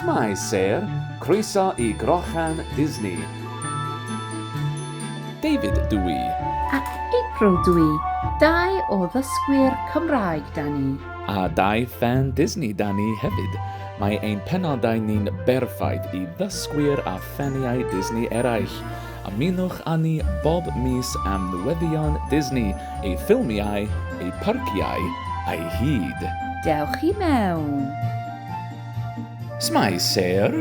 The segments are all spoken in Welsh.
Shwmae Sir, croeso i Grochan Disney. David dw i. A April dw i, dau o ddysgwyr Cymraeg 'da ni. A dau ffan Disney 'da ni hefyd. Mae ein penodau ni'n berffaith i ddysgwyr a ffaniau Disney eraill. Ymunwch â ni bob mis am newyddion Disney, ei ffilmiau, ei pharciau a'i hyd. Dewch i mewn! Shwmae Sêr!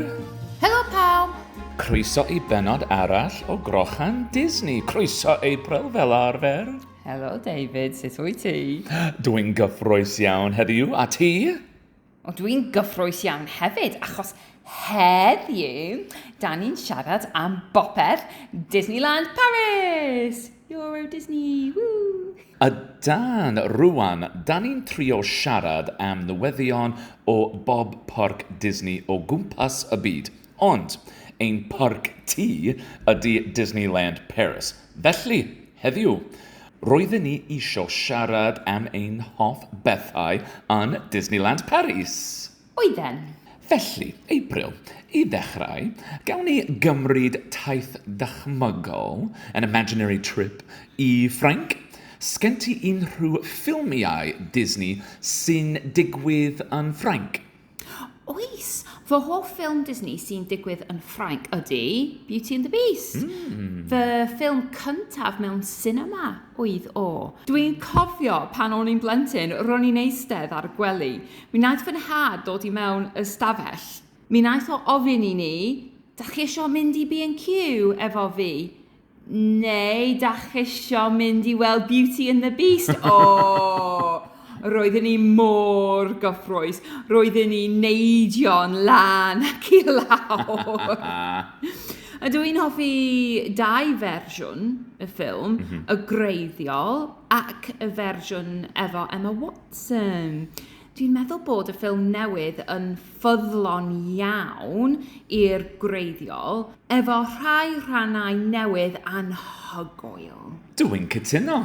Helo pawb! Croeso i bennod arall o Grochan Disney. Croeso April fel arfer. Helo David, sut wyt ti? Dw i'n gyffrous iawn heddiw, a ti? Ond dwi'n gyffrous iawn hefyd, achos heddiw, da ni'n siarad am bopeth Disneyland Paris! Euro Disney, woo! A dan, rwan, da ni'n trio siarad am newyddion o bob parc Disney o gwmpas y byd. Ond, ein parc tŷ ydy Disneyland Paris, felly, heddiw, roedden ni isio siarad am ein hoff bethau yn Disneyland Paris! Oedden! Felly, April, i ddechrau, gawn ni gymryd taith ddychmygol, an imaginary trip, i Ffrainc? Sgen ti unrhyw ffilmiau Disney sy'n digwydd yn Ffrainc? Oes! Fy hoff ffilm Disney sy'n digwydd yn Ffrainc ydy Beauty and the Beast. Mm. Fy ffilm cyntaf mewn cinema oedd o. Dwi'n cofio pan o'n i'n blentyn, ro'n i'n eistedd ar y gwely. Mi wnaeth fy nhad dod i mewn ystafell. Mi wnaeth o ofyn i ni, da chi eisiau mynd i B&Q efo fi? Neu dach isio mynd i weld Beauty and the Beast? O! Roedden ni mor gyffrous. Roedden ni neidio'n lan ac i lawr. A dw i'n hoffi dau fersiwn y ffilm, mm -hmm. y greiddiol ac y fersiwn efo Emma Watson. Dwi'n meddwl bod y ffilm newydd yn ffyddlon iawn i'r gwreiddiol, efo rhai rhannau newydd anhygoel. Dw i'n cytuno.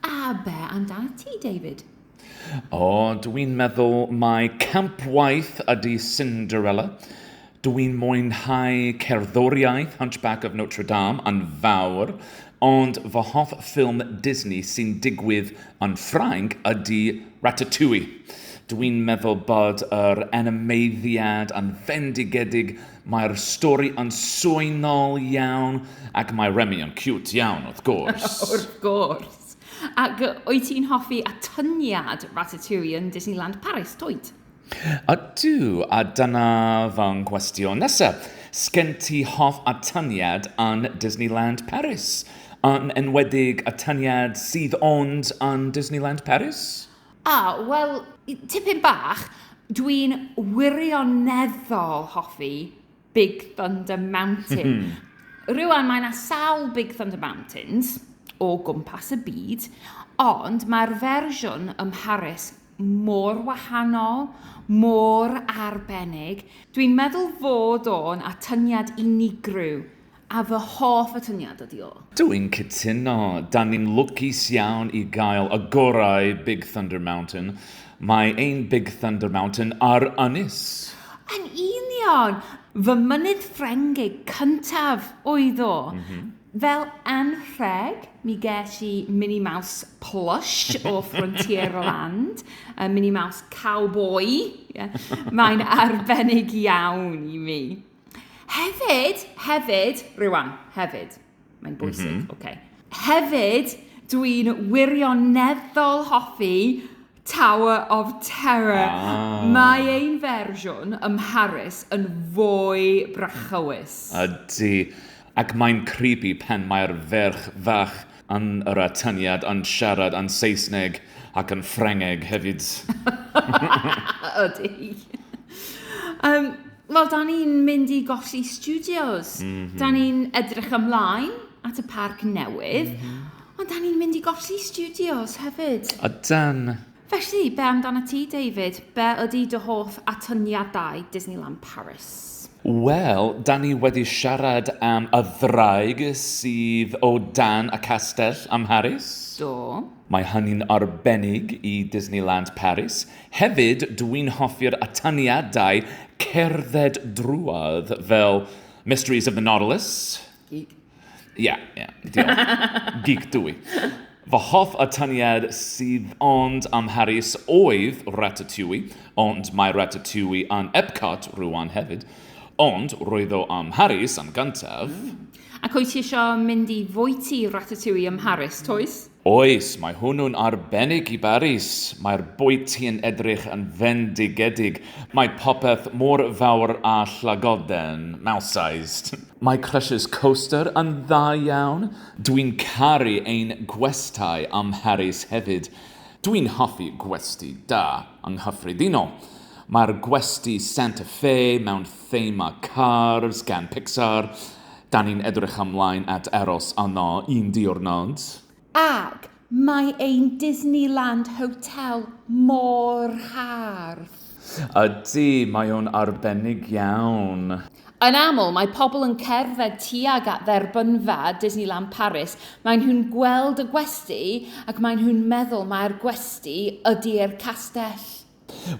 A be amdanat ti, David? O, dw i'n meddwl mai camp waith ydy Cinderella. Dw i'n mwynhau cerddoriaeth Hunchback of Notre Dame yn fawr, ond fy hoff ffilm Disney sy'n digwydd yn Ffrainc ydy Ratatouille. Dw i'n meddwl bod yr animeiddiad yn fendigedig, mae'r stori yn swynol iawn, ac mae Remy yn ciwt iawn, wrth gwrs. Wrth gwrs. Ac wyt ti'n hoffi atyniad Ratatouille yn Disneyland Paris, dwyt? Ydw, a dyna fy nghwestiwn nesaf. Sgen ti hoff atyniad yn Disneyland Paris? Yn enwedig atyniad sydd ond yn Disneyland Paris? O, wel, tipyn bach. Dwi'n wirioneddol hoffi... Big Thunder Mountain. Rwy'n mae yna sawl Big Thunder Mountains o gwmpas y byd, ond mae'r fersiwn ym Mharis mor wahanol, mor arbennig. Dwi'n meddwl fod o'n atyngiad unigryw A fy hoff atyniad ydi o. Dw i'n cytuno! Dan ni'n lwcus iawn i gael y gorau Big Thunder Mountain. Mae ein Big Thunder Mountain ar ynys! Yn union! Fy mynydd Ffrengig cyntaf oedd o. Fel anrheg, mi ges i Mini Mouse plush o Frontierland, y Mini Mouse cowboi. Mae'n arbennig iawn i mi. Hefyd, hefyd, rwan, hefyd, mae'n mhm. bwysig, mm -hmm. okay. Hefyd, dwi'n wirioneddol hoffi Tower of Terror. Ah. Mae ein fersiwn ym Mharis yn fwy brachywys. Ydy. Ac mae'n creepy pen mae'r ferch fach yn yr atyniad yn siarad yn Saesneg ac yn Ffrengeg hefyd. Ydy. um, Wel, dan ni'n mynd i golli studios. Mm -hmm. Dan ni'n edrych ymlaen at y parc newydd. Mm -hmm. Ond dan ni'n mynd i golli studios hefyd. A dan... Felly, be amdano ti, David? Be ydy dy hoff atyniadau Disneyland Paris? Wel, da ni wedi siarad am y ddraig sydd o dan y castell am Harris. Do. Mae hynny'n arbennig i Disneyland Paris. Hefyd, dw i'n hoffi'r atyniadau cerdded drwodd fel Mysteries of the Nautilus. Geek. Ie, yeah, ie, yeah, diolch. Geek dw i. Fy hoff atyniad sydd ond am Paris oedd Ratatouille, ond mae Ratatouille yn Epcot rwan hefyd. Ond roedd o am Paris am gyntaf. Mm. Ac wyt ti eisiau mynd i fwyty Ratatouille ym Mharis, Toes? Oes, mae hwnnw'n arbennig i Baris. Mae'r bwyty yn edrych yn fendigedig. Mae popeth mor fawr a llagoden, mouse-sized. Mae Crushers Coaster yn dda iawn. Dwi'n caru ein gwestai ym Mharis hefyd. Dwi'n hoffi gwesty da, yng nghyffredinol. Mae'r gwesty Santa Fe mewn thema Cars gan Pixar. Da ni'n edrych ymlaen at aros yno un diwrnod. Ac mae ein Disneyland Hotel mor hardd! Ydy, mae o'n arbennig iawn. Yn aml, mae pobl yn cerdded tuag at dderbynfa Disneyland Paris, maen nhw'n gweld y gwesty ac maen nhw'n meddwl mai'r gwesty ydi'r castell.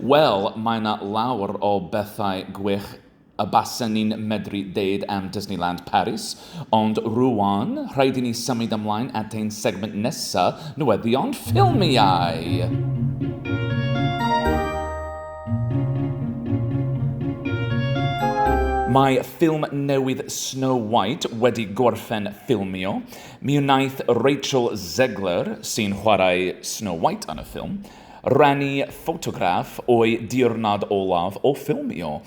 Wel, mae 'na lawr o bethau gwych y basen ni'n medru deud am Disneyland Paris, ond rŵan, rhaid i ni symud ymlaen at ein segment nesa, newyddion ffilmiau! Mae ffilm newydd Snow White wedi gorffen ffilmio. Mi wnaeth Rachel Zegler, sy'n chwarae Snow White yn y ffilm, Rhannu ffotograff o'i diwrnod olaf o ffilmio.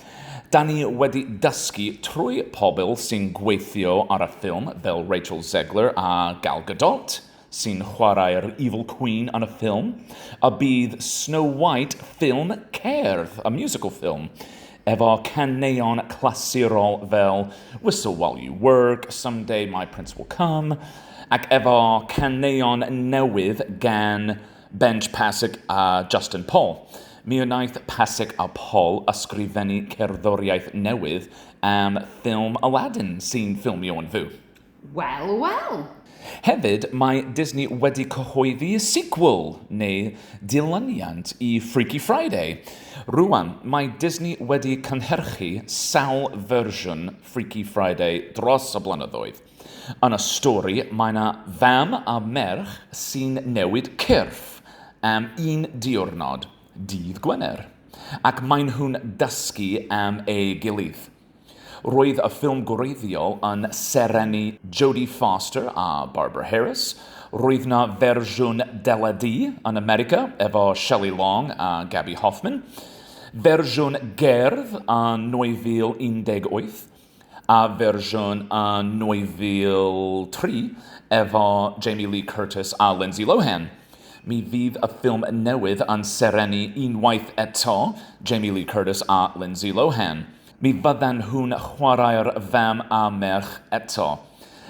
Da ni wedi dysgu trwy pobl sy'n gweithio ar y ffilm fel Rachel Zegler a Gal Gadot, sy'n chwarae'r Evil Queen yn y ffilm, y bydd Snow White ffilm cerdd, y musical film, efo caneuon clasurol fel Whistle While You Work, Someday My Prince Will Come, ac efo caneuon newydd gan Benj Pasek a Justin Paul. Mi wnaeth Pasek a Paul ysgrifennu cerddoriaeth newydd am ffilm Aladdin sy'n ffilmio yn fyw. Wel, wel! Hefyd, mae Disney wedi cyhoeddi sequel, neu dilyniant, i Freaky Friday. Rŵan, mae Disney wedi cynhyrchu sawl fersiwn Freaky Friday dros y blynyddoedd. Yn y stori, mae 'na fam a merch sy'n newid cyrff am un diwrnod, dydd Gwener, ac maen nhw'n dysgu am ei gilydd. Roedd y ffilm gwreiddiol yn serennu Jodie Foster a Barbara Harris, roedd 'na fersiwn deledu yn America efo Shelley Long a Gaby Hoffmann, fersiwn gerdd yn 2018, a fersiwn yn 2003 efo Jamie Lee Curtis a Lindsay Lohan. Mi fydd y ffilm newydd yn serennu unwaith eto Jamie Lee Curtis a Lindsay Lohan. Mi fyddan nhw'n chwarae'r fam a merch eto.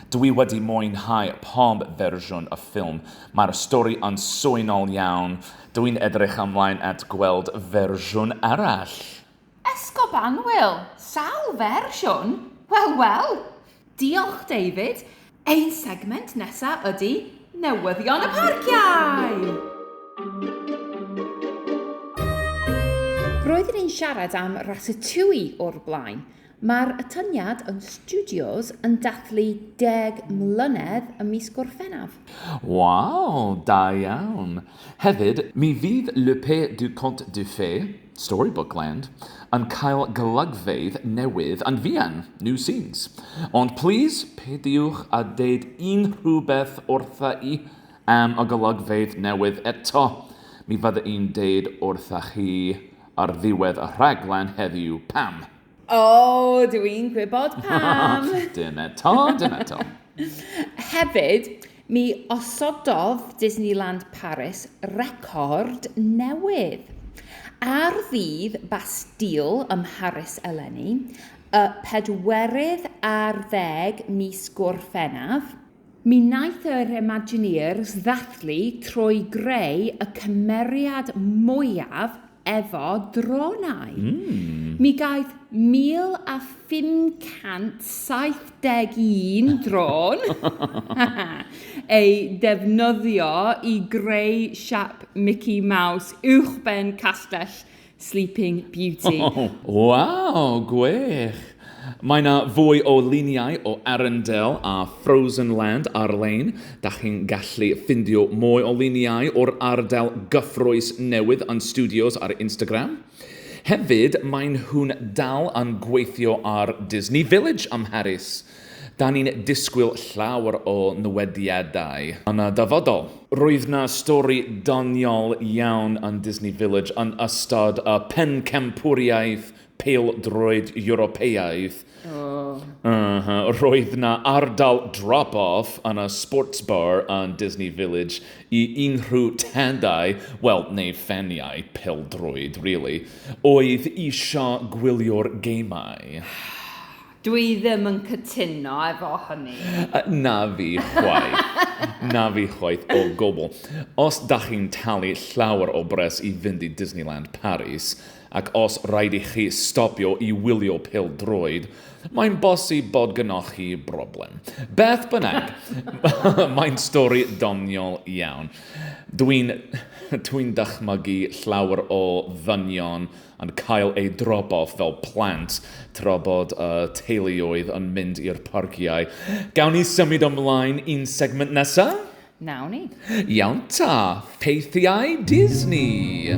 Dw i wedi mwynhau pob fersiwn y ffilm. Mae'r stori yn swynol iawn. Dw i'n edrych ymlaen at gweld fersiwn arall. Esgob Annwyl! Sawl fersiwn? Wel, wel! Diolch, David. Ein segment nesa ydy newyddion y parciau! Roeddwn i'n siarad am Ratatouille o'r blaen. Mae'r atyniad yn Studios yn dathlu deg mlynedd ym mis Gorffennaf. Waw, da iawn! Hefyd, mi fydd Le Père du Conte de Fées, Storybookland yn cael golygfeydd newydd yn fuan, new scenes. Ond plîs, peidiwch â deud unrhyw beth wrtha i am y golygfeydd newydd eto. Mi fydda i'n deud wrtha chi ar ddiwedd y rhaglen heddiw pam. O, dw i'n gwybod pam! Dim eto, dim eto. Hefyd, mi osododd Disneyland Paris record newydd. Ar ddydd Bastille ym Mharis eleni, y pedwerydd ar ddeg mis Gorffennaf, Mi wnaeth yr Imagineers ddathlu trwy greu y cymeriad mwyaf efo dronau. Mm. Mi gaeth 1,571 drôn ei defnyddio i greu siap Mickey Mouse uwchben Castell Sleeping Beauty. Oh, waw, gwych! Mae yna fwy o luniau o Arundel a Frozen Land ar-lein. Da chi'n gallu ffindio mwy o luniau o'r ardal gyffrous newydd yn Studios ar Instagram. Hefyd, maen nhw'n dal yn gweithio ar Disney Village ym Mharis. Da ni'n disgwyl llawer o newediadau yn y dyfodol. Roedd 'na stori doniol iawn yn Disney Village yn ystod y Pencampwriaeth Pêl-droed Ewropeaidd. Uhh. Roedd 'na ardal drop-off yn y Sports Bar yn Disney Village i unrhyw tadau, wel, neu ffeniau pêl-droed, rili, oedd isio gwylio'r gemau. Dw i ddim yn cytuno efo hynny. Na fi chwaith. Na fi chwaith o gwbl. Os da chi'n talu llawer o bres i fynd i Disneyland Paris, ac os rhaid i chi stopio i wylio pêl-droed, mae'n bosib bod gynoch chi broblem. Beth bynnag, mae'n stori doniol iawn. Dwi'n dwi'n dychmygu llawer o ddynion yn cael eu drobodd fel plant tra bod y teuluoedd yn mynd i'r parciau. Gawn ni symud ymlaen i'n segment nesa? Nawn ni. Iawn ta, ffeithiau Disney!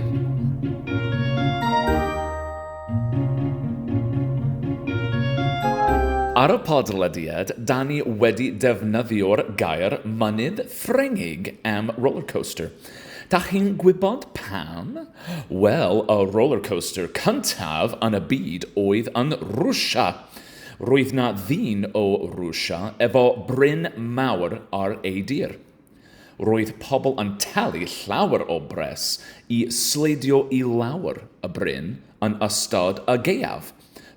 Ar y podlediad, da ni wedi defnyddio'r gair mynydd Ffrengig am rollercoaster. Dach chi'n gwybod pam? Wel, y rollercoaster cyntaf yn y byd oedd yn Rwsia. Roedd 'na ddyn o Rwsia efo bryn mawr ar ei dir. Roedd pobl yn talu llawer o bres i sleidio i lawr y bryn yn ystod y gaeaf.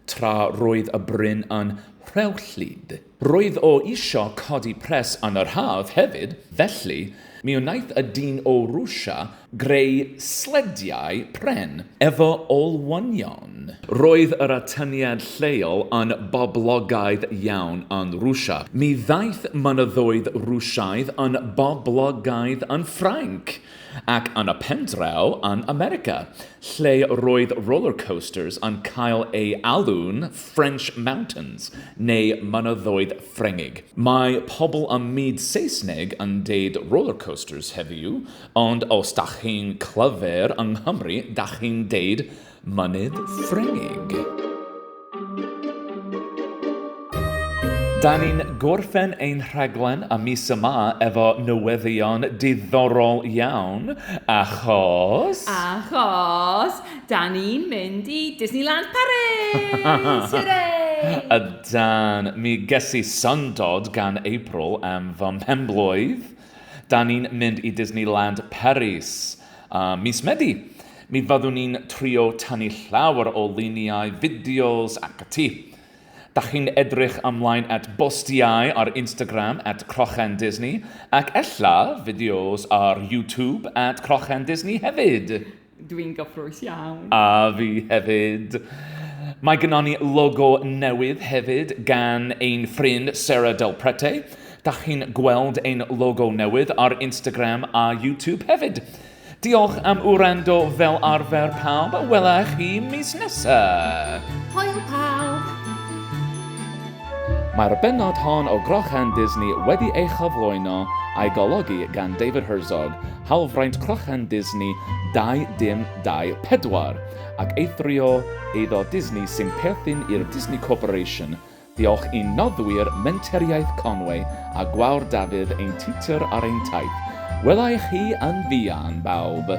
tra roedd y bryn yn rhewllyd. Roedd o isio codi pres yn yr haf hefyd, felly mi wnaeth y dyn o Rwsia greu slediau pren efo olwynion. Roedd yr atyniad lleol yn boblogaidd iawn yn Rwsia. Mi ddaeth mynyddoedd Rwsiaidd yn boblogaidd yn Ffrainc. Ac yn y pen draw, yn America, lle roedd roller coasters yn cael eu alw'n French Mountains, neu Mynyddoedd Ffrengig. Mae pobl ym myd Saesneg yn deud roller coasters heddiw, ond os dach chi'n clyfr yng Nghymru dach chi'n deud Mynydd Ffrengig. Da ni'n gorffen ein rhaglen am mis yma efo newyddion diddorol iawn, achos... Achos, da ni'n mynd i Disneyland Paris! Hwre! Ydan, mi ges i syndod gan April am fy mhen-blwydd. Da ni'n mynd i Disneyland Paris uh, mis Medi. Mi fyddwn ni'n trio tanu llawer o luniau, fideos ac y ti. Da chi'n edrych ymlaen at bostiau ar Instagram at Crochen Disney ac ella fideos ar YouTube at Crochen Disney hefyd. Dwi'n gyffrous iawn. A fi hefyd. Mae gynon ni logo newydd hefyd gan ein ffrind Sarah Del Prete. Da chi'n gweld ein logo newydd ar Instagram a YouTube hefyd. Diolch am wrando fel arfer pawb a wela chi mis nesa. Hwyl pawb! Mae'r bennod hon o Grochan Disney wedi ei chyflwyno a'i golygu gan David Herzog, Hawlfraint Crochan Disney 2024 ac eithrio eiddo Disney sy'n perthyn i'r Disney Corporation, diolch i'n noddwyr Menteriaeth Conwy a Gwawr Dafydd ein tiwtor ar ein taith. Wela i chi yn fuan, bawb!